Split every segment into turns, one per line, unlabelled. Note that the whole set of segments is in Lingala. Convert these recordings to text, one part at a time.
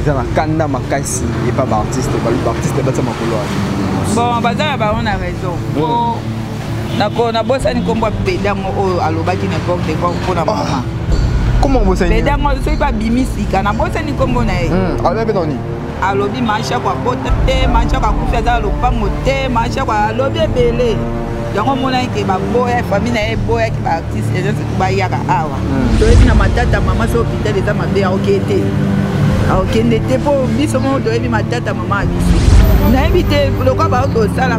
eza na kanda makasi epa baartiste baartiste batia makolo wana bon baza
na bango na raison nako nabosani nkombo ya pedango oyo alobaki na epoque de epoque mpo na mama ah, koma obosani
pedango soki babimi
sika nabosani nkombo na ye hmm, alobi mpe nani
alobi mashako
abota te mashako akufi aza na lopango te mashako alobi ebele yango omonaki ke baboya famille na ye eboyaki baartiste ezanse bayaka awa hmm. toyebi na matata mama so hopital eza mabe aokee te aokende te mpo biso moko toyebi matata mama ya biso nayebi te lokwa baoki kosala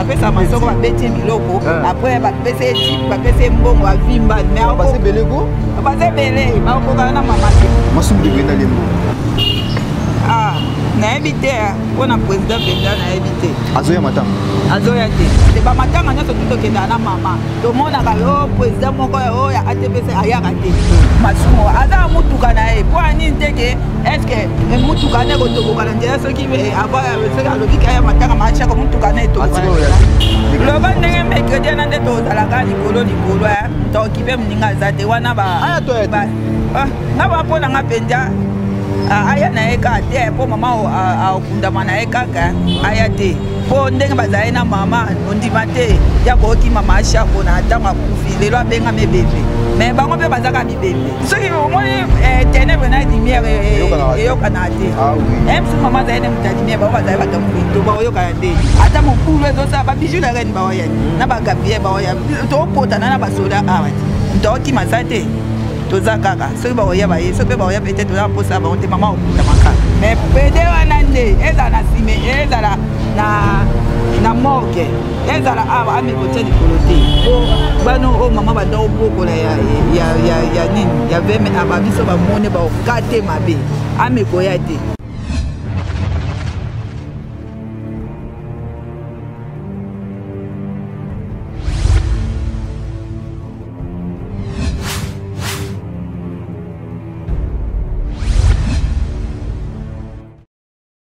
apesa masoko babeti ye biloko eh. apres bapesa ye tip bapesa ye mbongo avimba mebase ebele ko base ebele bakokana na mama te masumu libenda
lembo
ah, nayebi te ah. mpo na président benda nayebi te azoya matanga
azoya te
te bamatanga nyonso tu tokendaka na mama tomonaka yo oh, président moko oyo ya atpc ayaka te masumu aza motuka na ye mpo anini te ke estce motuka nde kotoboka na nzela soki loba ndenge mercredi wana nde tozalaka likolo likolo eh. tokipe moninga aza te wana ah, ah, nga bapo na nga mpenza ah, aya na ye kaka te mpo mama akundama na ye kaka eh. aya te mpo ndenge bazali na mama ondima te ya kookima maasha mpona ntango akufi lelo abengami ebebe me bango mpe bazaka soki omoni eh, tenebre na lumière eh, eh, eyokanaka te ah meme soki mama azali na moto ya lumière bango bazali bato ya mopeto baoyokana nde ata mokulu ezosala babiju la reine baoya na bagabie baoya tokopotana na basoda awa ah, tokima za te toza kaka soki bakoya baye soki mpe bakoya peut-être toza mposa bango te mama okotamaka mais pede wana nde ezala na sime ezala na morgue ezala awa ami kotia likolo te po bana oyo mama banda obokola ya nini ya veme aba biso bamone baoka te mabe ami koya te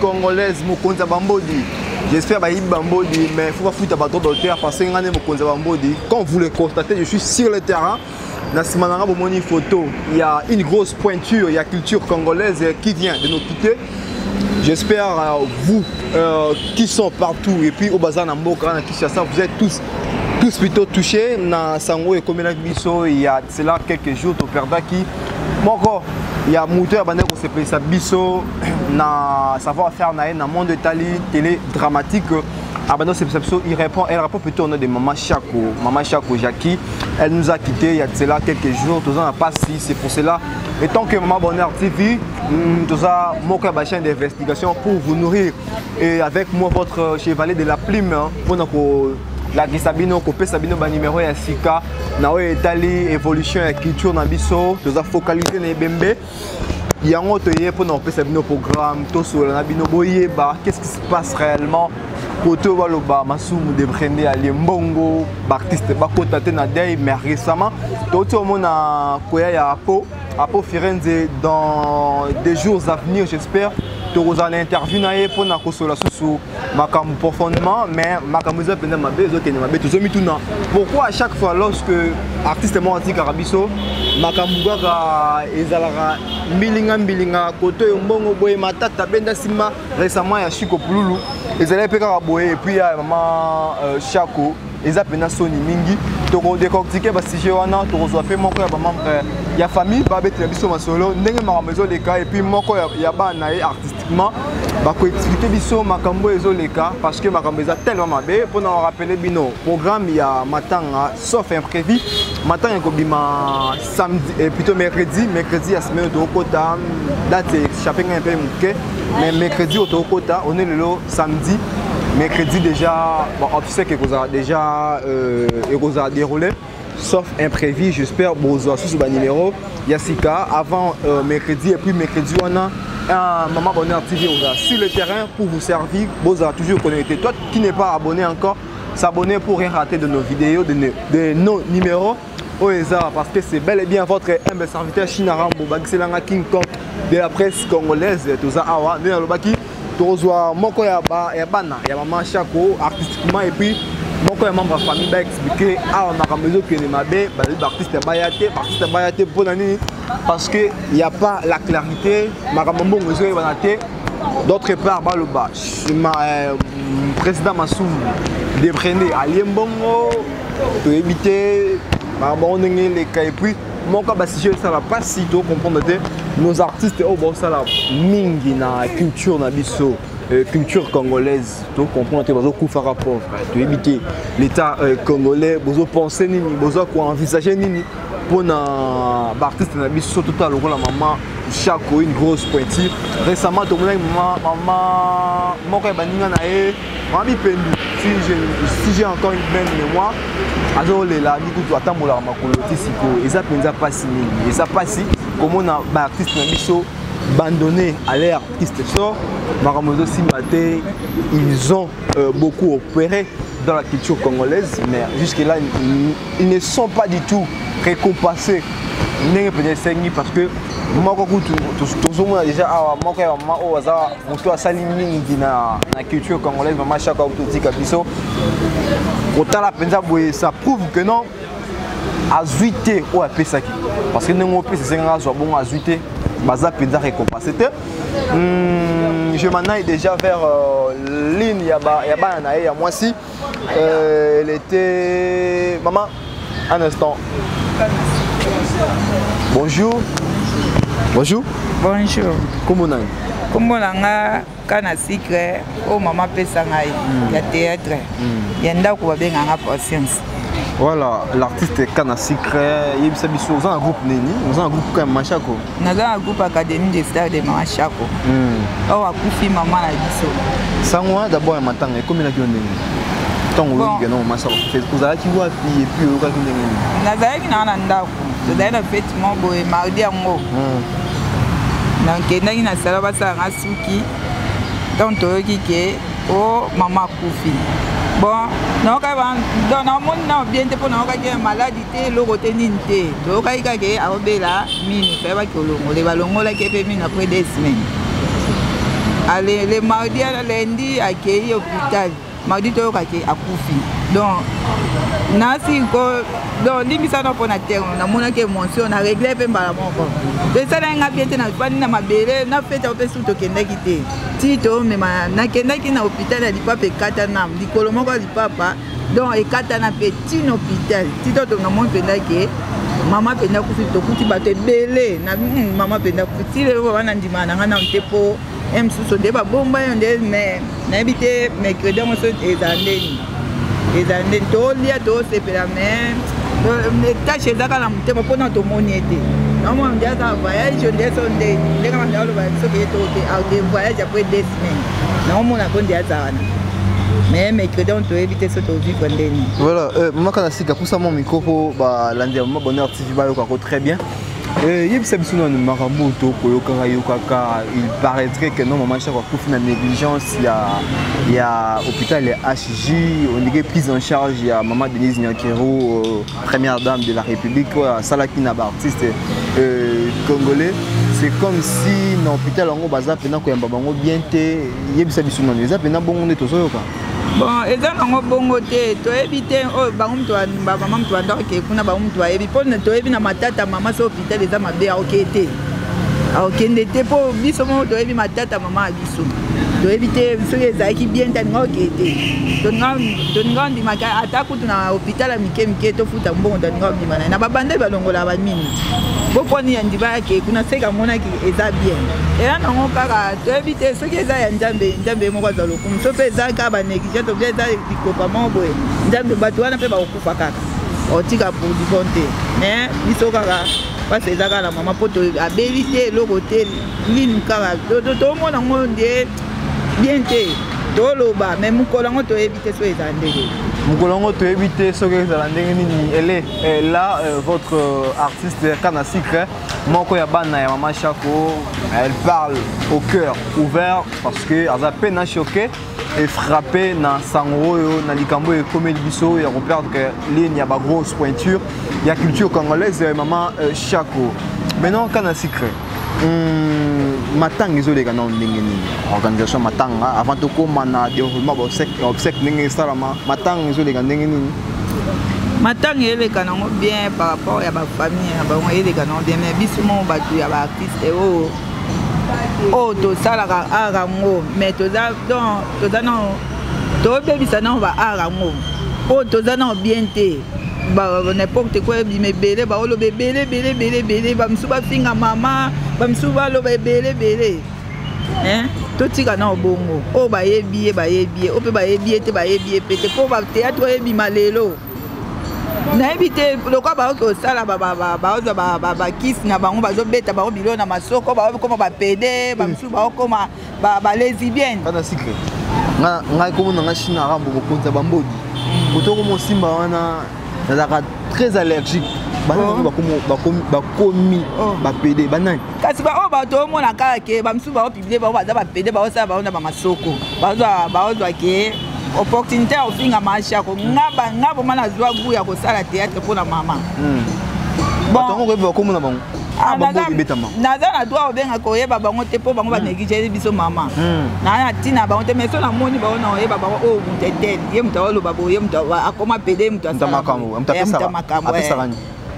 congolaise mokonzi ya bambodi j'espère bayibi bambodi mais faut bafuta bato d'auteur parce que ngai nde mokonzi ya bambodi comme vous le constatez je suis sur le terrain na nsima na ngai bomoni photo ya une grosse pointure ya culture congolaise qui vient de nous quitter J'espère euh, vous euh, qui sont partout et puis au bazar Namboka, Kishasa, vous êtes tous tous plutôt touchés na sango et comme il y a cela quelques jours toperdaki moko ya moto oyo abandaki kosepelisa biso na savoir faire na ye na monde etali télé dramatique abandaki kosepelisa biso il répond elle répond plutôt au nom de mama shako mama shako jacki elle nous a quitté ya cela quelques jours toza na mpasi c'est pour cela et tant que mama bonheur tv mm, toza moko ya bachaine d'investigation pour vous nourrir et avec moi votre chevalier de la plume mpona ko lakisa bino kopesa bino banimero ya sika na oyo etali évolution ya culture na biso toza focalise na ebembe yango toye mpona kopesa bino programme tosolola na bino boyeba qu'est ce qui se passe réellement kote oyo baloba masumu de brende alie mbongo baartiste bakota te na dei mais récemment touti omona koya ya apo apo firenze dans des jours à venir j'espère tokozala na interview na ye mpona kosolola susu makambo profondément mais makambo eza mpenza mabe ezokende mabe tozomituna pourquoi à chaque fois lorsque artiste moko atikaka biso makambo kaka ezalaka mbilinga mbilinga koto oyo mbongo boye matata benda nsima récemment ya shiko pululu ezalaki mpe kaka boye epuis ya mama euh, shako eza pena soni mingi toko décortiquer ba sujet wana tokozwa pe moko ya ba membre euh, ya famille ba betela biso masolo ndenge makambo ezoleka et puis moko ya, ya bana ye artistiquement bako expliquer biso makambo ezoleka parce que makambo eza tellement mabe pona ko rappeler bino programme ya matanga sauf imprévu matanga ekobima samedi eh, plutôt mercredi mercredi ya semaine tokokota date echappe ngai mpe moke mais mercredi oyo tokokota one lelo samedi mercredi déjà baobsèque ekozala déjà euh, ekozala déroulé sauf imprévu j'espère bozwa susu banuméro ya sika avant euh, mercredi et puis mercredi wana un maman abonné à TV oza sur le terrain pour vous servir bozala toujours connecté toi qui n'est pas abonné encore s'abonner pour rien rater de nos vidéos de, de nos numéros oyo eza parce que c'est bel et bien votre humble serviteur china rambo bakiselanga king kong de la presse congolaise toza awa nde nalobaki tokozwa moko ya, ba, ya bana ya mama shako artistiquement et puis moko ya membre ya famille baexplike awa makambo ezokende mabe bazali baartiste baya te baartiste baya te mpo na nini parce que ya pas la clarité makambo mbongo ezoyebana te d'autre part baloba ma, euh, président masumu deprene alie mbongo toyebi te bango ndenge eleka epuis moko basije esala mpasi to comprendre te nos artistes oyo baosala mingi na culture na biso Euh, culture congolaise tocomprendre te bazokufaka pauvre toyebi te l'état euh, congolais bozopense nini boza koenvisage nini mpo na baartiste na biso totala lokola mama shako une grosse pointure récemment tomonaki mama moko ya baninga na ye mama bipendu si j'ai encore une belle mémoire azolela mikutu atambolaka makolo ti sikoyo eza mpenza mpasi mingi eza mpasi komona baartiste na biso bandonné à leur artiste sort makambo ezosimba te ils ont euh, beaucoup opéré dans la culture congolaise mais jusque là ils ne sont pas du tout récompensés ndenge mpenza esengi parce que moko kutu tozomona déjà awa moko ya mama oyo aza moto asali mingi na, na culture congolaise mama shaka oyo totika biso kotala mpenza boye ça prouve que non azwi te oyo apesaki parce que ndenge opesa esengaka azwa bongo azwi te baza mpenza récompense te hmm, je manai déjà vers euh, ligne ya bana na ye ya mwasi Euh, elle était. Maman, un instant. Bonjour. Bonjour. Bonjour.
Comment nani?
Comment nanga
kana secret oh maman pesa ngai hmm. ya théâtre. Hmm. Ya ndako babenga nga patience. Voilà,
l'artiste kana secret, yebisa biso oza un groupe nini? Oza un groupe comme Machako. naza na groupe
académie des stars de mama shako hmm. oyo akufi mama na biso sango wana dabord ya matanga
ekomelaki yo ndenge ntango oyokike na mama shako ozalaki wapi epuis oyokaki ndenge nini nazalaki naa na
ndako tozalaki na fete mo boye mardi yango hmm. nakendaki na sala basala nga suki ntango toyoki ke o oh, mama akufi bon naokaki donc namoni nao bien te mpo naokaki maladi te eloko te nini te toyokaki kaka ye aobela mini toyebaki olongole balongolaki ye mpe mini après deux semaines ale le mardi ya lundi akei hôpital mardi toyoka ke akufi donc nasi ko donc limbisa no mpo na terme namonaki émotion na regle mpe mbala moko to esalaki ngai bien te nafandi na mabele na fete yango mpe susu tokendaki te ti tomema nakendaki na hôpital ya lipapa ekata nam likolo moko ya lipapa donc ekatana mpe tina hôpital tito to namoni mpenza ke mama mpenza kufi tokuti bato ebele na hmm, mama mpenza kufi ti lelo wana ndima na ngai nano te mpo ye mosusu nde babomba yo nde mais nayebi te mercredi yango so ezala ndeni ezala ndeni tolia tosepela mais euh, tâche eza kaka na motema mpona tomoni ye te naomona nde aza voyage nde so ndeni ndenge manda oloba soki ye toke voyage apres des naomona konde aza wana mais mercredi on toyebi te so tovivre ndeni voilà euh, mama kana
sika pusa mwa mikro mpo balandi ya mama bonheur tv bayoka ko très bien euh, yebisa biso nanu makambo oyo tokoyokaka yokaka il paraîtrait que non mama chako akufi na négligence ya ya hôpital ya hg ondike prise en charge ya mama denise nyakero euh, Première dame de la République oyo asalaki na ba artistes euh, congolais c'est comme si na hôpital yango baza mpena koyamba bango bien te yebisa biso nano eza mpena bongo nde tozoyoka bon eza nango
bongo te toyebi te oyo oh, bango moto bamama moto bandako ke kuna bango moto bayebi mpo toyebi na matata mama so hôpital eza mabe aoke te akokende te mpo biso moko toyebi matata mama ya biso toyebi te soki ezalaki bien te alinga okee te tolinga ondimaka atako na hopital ya mike mike tofuta mbongo tolinga kobima naye na babandeli balongola bamini boponi ya ndiba yake kuna seka amonaki eza bien eya nango kaka toyebi te soki eza ya nzambe nzambe ye moko azwa lokumu so mpe eza kaka banegligence obia eza likopa moko boye nzambe bato wana mpe bakokufa kaka otika pour du bon te mais biso kaka mpasi eza kaka na mama mpo abeli te eloko te lini kaka tomona ngo nde bien te toloba me mokolo yango toyebi te soki ezala ndenge mokolo yango toyebi
te soki ezala ndenge nini ele eh, la eh, votre euh, artiste kana secret moko ya bana ya mama shako elle parle au cœur ouvert parce que aza pe na choqué efrappe na sango oyo na likambo oyo ekomeli biso ya koperdre ligne ya bagrosse pointure ya culture congolaise ya mama euh, shako maintenant kana secret Hmm, matanga ezoleka nao ndenge nini organisation ya matanga avant tokóma na déroulement baobsèque ndenge esalama matanga ezoleka ndenge nini
matanga eleka nango bien par rapport ya bafamille na bango eleka nango bien mais biso moko bato ya baartiste oyo oh, oyo oh, tosalaka art yango mais toza don toza nao tobebisa nao baart yango oyo oh, toza nao bien te n'importe quoi ebima ebele baoloba ebele ebele ebele ebele bamisusu bafinga mama bamisusu baloba ebele ebele totika na obongo oyo bayebi ye bayebi ye oyo mpe bayebi ye te bayebi ye mpe te mpo bateatre oyo ebima lelo nayebi te lokola baoki kosala baozwa bakisi na bango bazobeta bango bilo na masoko baokoma bapede bamisusu baokoma ba ba lesbienne kana sikre
nga nga komo na nga shina rambo bokonza bambodi kotoko mm. mosimba wana nazalaka très allergique banani oh. bakomi oh. bapede banani kasi baoyo oh, bato
omona kaka ke bamosusu bao publie bao baza bapede baosala bao na bamasoko baozwa ke opportunité ya kofinga mashako nga boma nazwa gu ya kosala théâtre mpo na mama hmm.
bato yango koyeba bakomona bango Ah,
naza na droit obenga koyeba bango te mpo bango hmm. banegligeli biso mama hmm. naa na ntina bango te mais so namoni bango na oyeba bango oyo oh, moto etele ye moto aoloba boye moto akoma pede moto asamakambo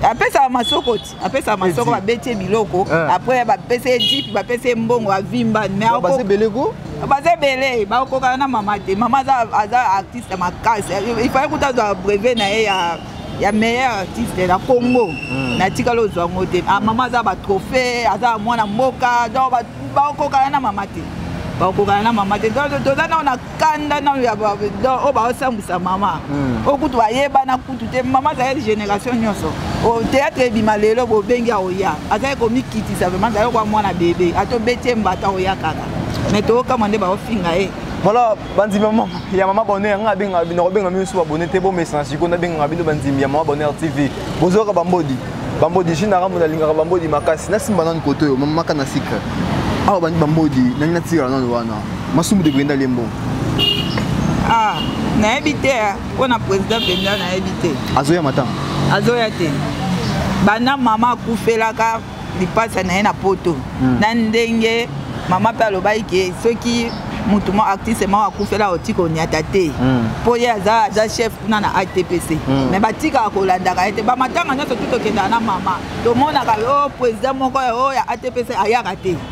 apesaka masoko ti apesaka masoko babeti ye biloko eh. après bapesa ye jipe bapesa ye mbongo avimba baza ebele eh, bakokana na mama te mama aza artiste makasi ifai kuta azwa brevet na ye ya ya meilleur artiste na congo hmm. natikali ozwa yango te ah, mama aza batrophée aza mwana mboka donc bakokana na mama te bakokana na mama te donc toza nao na kanda nao ya oyo baosambwisa mama hmm. oyo kutu bayebana kutu te mama azali génération nyonso théâtre ebima lelo bobengi aoya azali komikitisa vraimen azali kwa mwana bebe ata obeti ye mbata aoya kaka mais tookama nde baofinga ye
bandimi ya mama bonheur nga abenga bino kobenga bino so babone te bomesana sikoyo nabengaka bino bandimi ya mama bonheur tv bozoyoka bambodi bambodi jine arambo nalingaka bambodi makasi nasimba nanu koto oyo mamaka na sika awa bandi bambodi nani natikala nanu wana masumu de brenda lembo ah
nayebi te mpo na président brenda nayebi te azoya mata
azoya te
banda mama akufelaka lipasa na ye na poto hmm. na ndenge mama mpe alobaki ke soki motu mo artiste moko akufela oti konyata te mpo hmm. ye aza aza chef kuna na atpc hmm. me batikaka kolandaka ye te bamatanga nyonso tu tokendaka na mama tomonaka o oh, président moko oyo oh, ya atpc ayaka te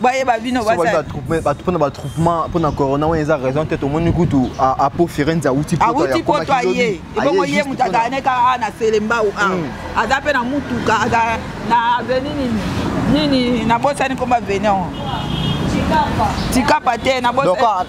bayeba bino mpona batroupement
mpona corona wana eza raison te tomoni kutu apo firenze awuti awuti poto aye
ebongo ye moto azala ne kaka awa na selembau awa hmm. aza mpe na motuka aza na aveni nini nini nabosani komba aveni yango tikapa te nabosani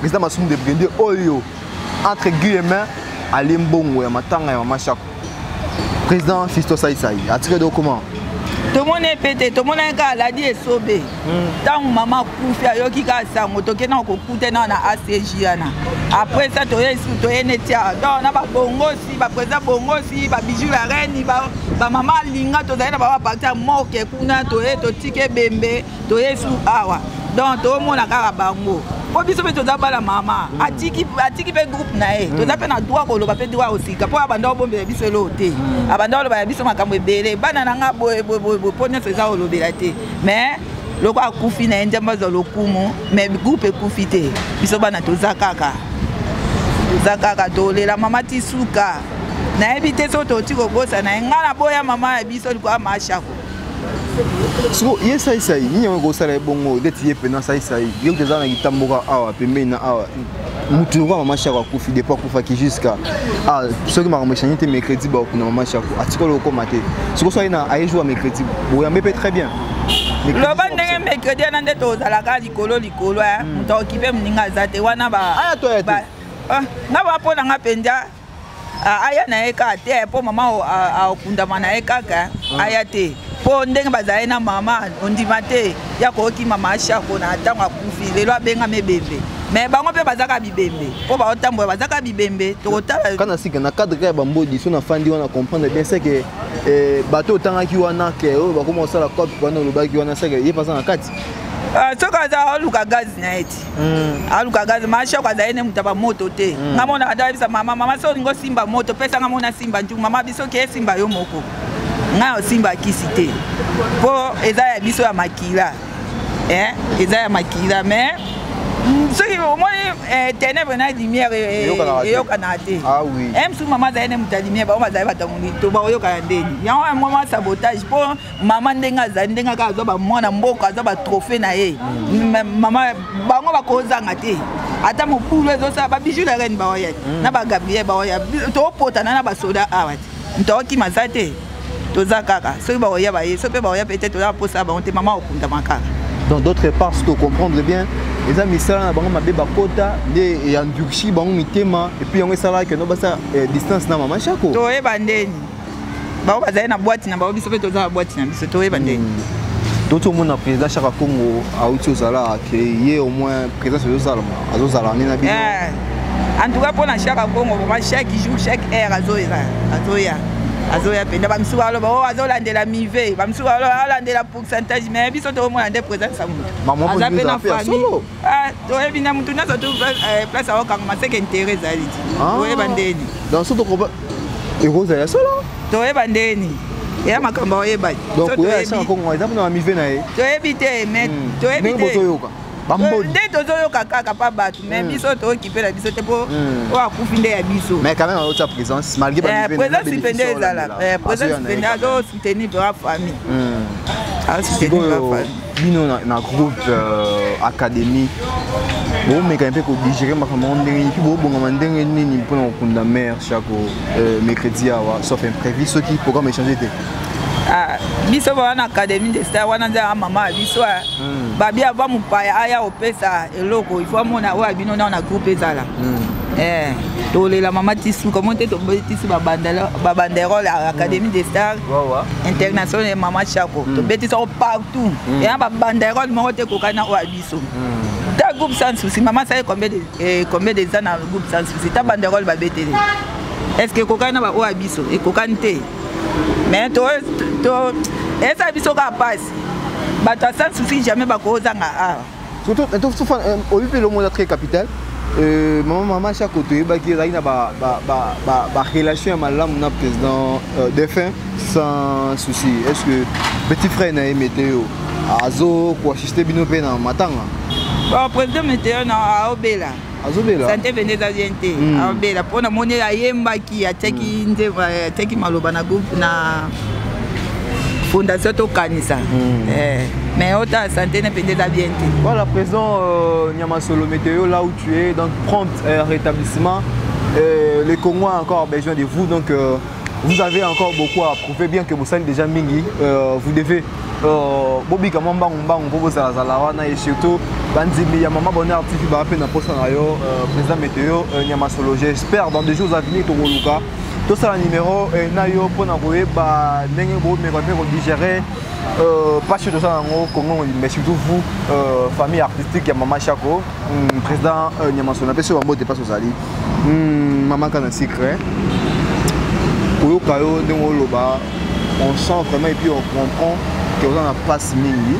Président Masum de Brinde oyo entre guillemets alie mbongo ya matanga ya mama Shako. Président Fisto Sai Sai atikaki do comment? tomoni
epete tomonaki kaka aladi esobe ntango hmm. mama akufi ayoki kaka sango toke na kokuta na na acg yana après ça toye toye neti awa donc na babongosi baprésident bongosi babiju ya reni bamama alinga tozali na babaparti ya moke kuna toye totiki ebembe toye su awa donc tomona kaka bango mpo biso mpe toza bana mama mm. atiki mpe groupe na ye mm. toza mpe na droit koloba mpe droit osika mpo abanda obombela biso eloo te mm. abanda oloba ya biso makambo ebele bana na nga boyeboyeboye mpo nyonso eza olobela te mais loko akufi na ye nzambe azwa lokumu mais groupe ekufi te biso bana toza kaka toza kaka tolela mama ti suka nayebi te soki toti kobosa na ye ngai naboya mama ya biso likoya mashako
siko ye saisai nini yango ekosala ye bongo deti ye mpena saisai yo kuta eza na kitamboka awa pembeni na awa motu lokola mama shako akufi depo akufaki jusqu'à ah, soki makambo echange te mercredi bakokunda mama shako atikolo okoma te siko so aye na aye jour ya mercredi boyambe mpe très bien loba
ndenge mercredi wana nde tozalaka likolo likolo moto eh. hmm. aokipe moninga aza te wana ba ah,
nga bapona
nga mpenza aya na ye kaka te mpo mama akundama na ye kaka hmm. aya te mpo ndenge bazali na mama ondima te ya koyoki mama ashako na ntango akufi lelo abengami ebembe me bango mpe bazaka bibembe mpo baotambola bazaka bibembe tokotala kana sika na cadre ya
bambodi so nafandi wana comprendre bien ce que eh, bato otangaki wana ke oyo bakoma kosala cop wana olobaki wana seke ye mpe aza na kati ah, soki aza
oluka gazi na ye ti Mm. alukaka mashoko azali ne moto ya bamoto te mm. nga monaka nde ayebisa mama mama so olingi osimba moto pesa nga mona simba njuku mama biso ke esimba yo moko ngai osimba kisi te mpo eza ya biso ya makila eh? eza ya makila mais mm, soki omoni eh, ténèbre na lumière eh, eyokanaka te ah eh, msu
mama azali ne moto ya
lumière bango bazali bato ya molito bakoyokana ndeni yango yango mwa sabotage mpo mama ndenge azali ndenge kaka azwa bamwana mboka azwa batrohe na ye mama bango bakozanga te ata mobulu ezosala babiju la reine baoya mm. na bagabriel baoya topotana na basoda awa te moto akokima aza te toza kaka soki baoya baye soki mpe baoya peut-être oza baposa bango te mama okundama kaka dans d'autres parts
ce que comprendre bien eza misala na bango mabe bakota nde eyandurci bango mitema epuis yango esalaka keno basa eh, distance na mama shako toyeba ndeni
bango bazali na bwati na bango biso mpe toza na bwati na biso toyeba nde hmm. toki omona
président chaka congo auti ozala ke ye au moins présence ezozalama azozala nde na bino eh, en tout
cas mpo na chaka congo vraimen chaque jour chaque heure azoya azoya azoya mpenza bamisusu baloba o oh, azolandela mive bamisusu baloba alandela pourcentage mais biso tokomona nde présence ya moto aza mpe na famille Ah, oyebi na motu nyonso tu eh, place akokangama seke intere ezali ti ah. oyeba ndeni donc so tokoba
ekozala ya solo toyeba ndeni
ya makambo oyeba toyebi
na ye toyebi te me
hmm. toyebi te nde tozoyoka kaka pa bato mai hmm. biso tookipela biso te mpo hmm. oyo akufi nde ya biso présence mpe nde ezalaka présence
mpe
nde azosoutenir mpe wa famille bino na, na
groupe euh, académie bomekani mpe kodigere makambo yango ndenge nini mpe bobongama ndenge nini mpona kokunda mare chako euh, mercredi awa sauf imprévu soki programme échange te ah,
biso baa na académie de star wana nzaa mama ya biso ah. hmm. babi ava mopaya aya opesa eloko ifo amona oyo abino nao na groupe ezala hmm. Eh, tolela mama tisu komo te tobetisi babanderole ya académie de star international ya mama chako mm. tobetisa o partout mm. eya babanda erole moko te ekokai na oyo ya biso mm. ta groupe sans souci mama asali combien de eh, combien des ans na groupe sans souci ta banda erole babetele est ce que ekokani na baoyo ya biso ekokani te mais to to esa biso kaka pasi bato ya sans souci jamais bakozanga awa surtout eh, eh,
oyebi mpe elongo eza très capital euh, mama mama chako toyebaki ezalaki na barelation ya malamu na président euh, défunt sans souci est ce que petit frère na ye meteo azo koassiste bino mpe na matanga président
meteo na aobela azobela sante
mpenza eza bien
te hmm. abela mpo namoni ayembaki atiaki hmm. nde atiaki maloba na groupe na fondation tokanisa hmm. eh, mais ota sante na mpenza eza bien te voilà présent
euh, nyamasolo météo là où tu es donc prompt euh, rétablissement euh, les congo a encore besoin de vous donc euh, vous avez encore beaucoup à prouver bien que bosali déjà mingi euh, vous devez Euh, bobika mwa mbangumbangu mpo bozalazala wana e surtout bandimi ya mama bonheur tv baa mpe na mposa na yo euh, président météo euh, nyamasolo j'espère dans des jours avenir tokoluka tosala numéro na yo mpo na koyeba ndenge bomeka mpe kodigere mpasi oyo tosala yango congo mobimba mais surtout vous famille artistique ya mama chako hmm, président nyamasolo na pesi bambote mpasi ozali hmm, mama kana secret koyoka yo ndenge oloba on sent vraiment epuis on comprend ke oza na mpasi mingi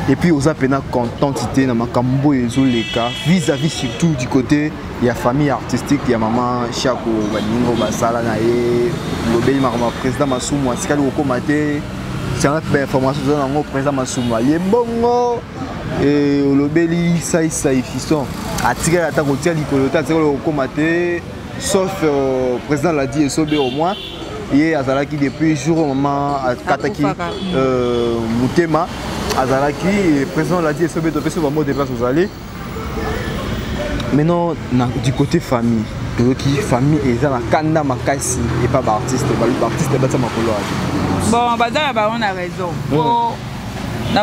epuis oza mpena contente te na makambo oyo ezoleka vis-à-vis surtout du côté ya famille artistique ya mama shako baningo basala na ye lobeli makambo ya président masumu atikali kokóma te tianga mpe bainformation toza nango président masumu alie mbongo olobeli saisai fison atikali ata kotia likolo te atikali kokóma te sauf euh, président l'a dit esobe au moins ye azalaki depuis jour oyo mama akataki euh, motema azalaki président l'a dit esobe topesi bango de place ozali maintenant na, du côté famille toyoki famille eza na kanda makasi epa baartiste baartiste batia makolo azo bon baza
na bango na raison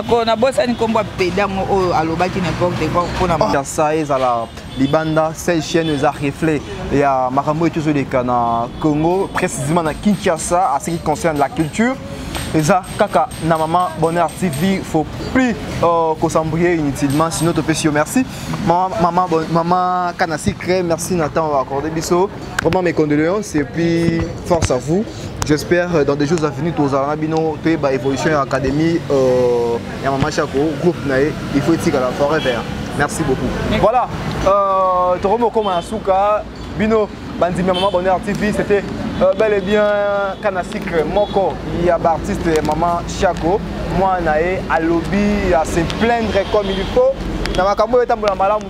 po nabosani nkombo ya peda yango oyo alobaki n'importe quoi mpona sa ezala
libanda cette chaîne eza reflet ya makambo oyo tozoleka na congo précisément na kinshasa à ce qui concerne la culture eza kaka na mama bonheur tv faut plus euh, kosambrie inutilement sinon topesi yo merci mama, mama, bon, mama kana secret merci na temps accordé biso vraiment mes condoléances et puis force à vous J'espère euh, dans des jours à venir tozala na bino toyeba évolution ya académie euh, ya mama shako groupe na ye il faut etikala forever merci beaucoup voilà euh, tokomi okoma na suka bino bandimi ya mama bonheur tv c'était euh, bel et bien kana sucre moko ya baartiste ya mama shako mwana na ye alobi ya se plaindre comme il faut na makambo oyo etambola malamu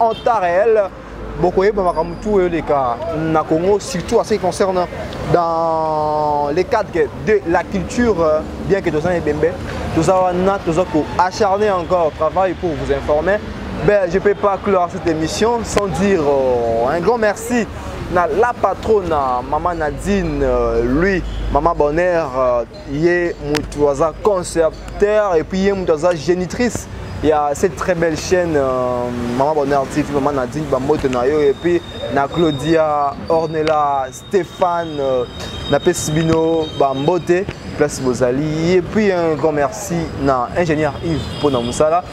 en temps réel bokoyeba makambo tu oyo eleka na congo surtout à ce qui concerne dans le cadre de la culture euh, bien que toza na ebembe toza wana toza koacharner encore travail pour vous informer ben, je ne peux pas clore cette émission sans dire euh, un grand merci na la patronne maman nadine euh, lui maman bonheur euh, ye mutu aza concepteur et puis ye mutu aza génitrice il y a cette très belle chaîne euh, Maman Bonheur TV, Maman Nadine Bambote Nayo et puis na Claudia, Ornella, Stéphane, euh, na Pesibino Bambote, place Bozali et puis un grand merci na ingénieur Yves Pona Moussala.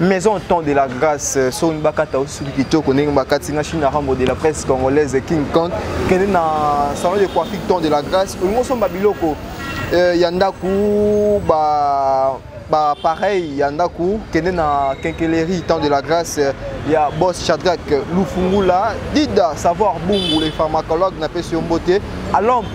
maison temps de la grâce euh, soki bakata osuki kitoko ndenge bakati na chine rambo de la presse congolaise king kant kende na salon de coiffure temps de la grâce olingi osomba biloko euh, ya ndako ba bapareil ya ndako kende na kenkeleri temps de la grâce euh, ya bos chadrak lufungula dida savoir bungu le pharmacologue napesi yo mbote alombe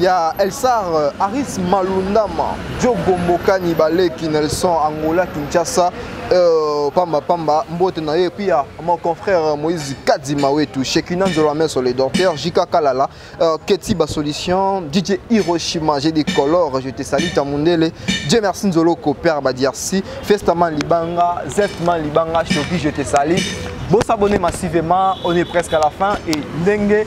ya Elsar euh, Aris Malundama, Diogombo Kani Baleki Nelson Angola Kinshasa euh, pamba pamba mbote na ye puis ya mon confrère Moïse Kadima wetu Shekina Nzola Meso les docteurs Jika Kalala euh, Keti ba solution DJ Hiroshima j'ai des colores je te salue ta mundele Dieu merci Nzolo ko père Badiarsi Festaman Libanga Zestman Libanga Shoki je te salue Bon s'abonner massivement on est presque à la fin et dengue